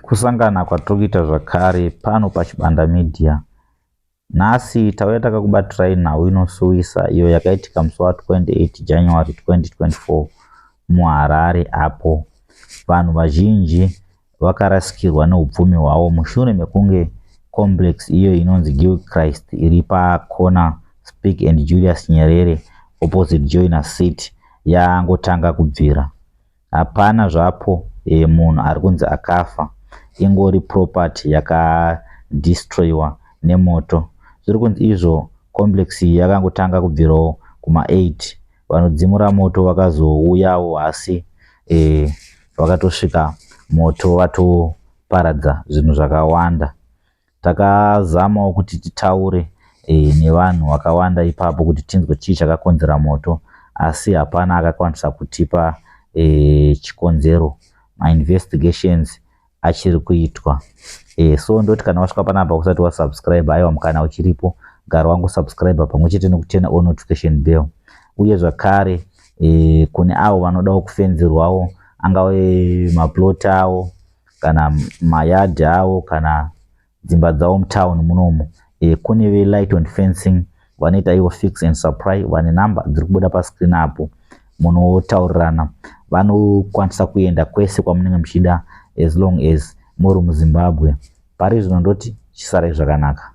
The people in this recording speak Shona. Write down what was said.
Kusangana kwatiri kuita zvakare pano paChibanda Media. Nhasi tauya takakubatirai nhau inosuwisa iyo yakaitika musi wa 28 January 2024 muHarare apo vanhu vazhinji vakarasikirwa neupfumi hwavo mushure mekunge complex iyo inonzi Gil Christ iri pakona Speke and Julius Nyerere opposite Joiner City yangotanga kubvira. Hapana zvapo ee munhu arikunzi akafa ingori property yaka destroywa nemoto zvirikunzi izvo complex iyi yakangotanga kubvirawo kuma 8 vanodzimura moto vakazouyawo hasi ee vakatosvika moto vatoparadza zvinhu zvakawanda Takazamawo kuti titaure nevanhu vakawanda ipapo kuti tinzwe chii chakakonzera moto asi hapana akakwanisa kutipa chikonzero. Mainvestigations achiri kuitwa so ndoti kana wasvika panapa usati wasubscribe aiwa mukana uchiripo gara wangosubscribe pamwe chete nekutena o notification bell uye zvakare kune avo vanodawo kufenzerwawo angave maplot awo kana mayadhi avo kana dzimba dzavo mutown munomu e, kune velight and fencing vanoita ivo fix and supply vane number dziri kubuda pascreen apo munotaurirana vanokwanisa kuenda kwese kwamunenge muchida as long as muri muzimbabwe pari zvino ndoti chisarai zvakanaka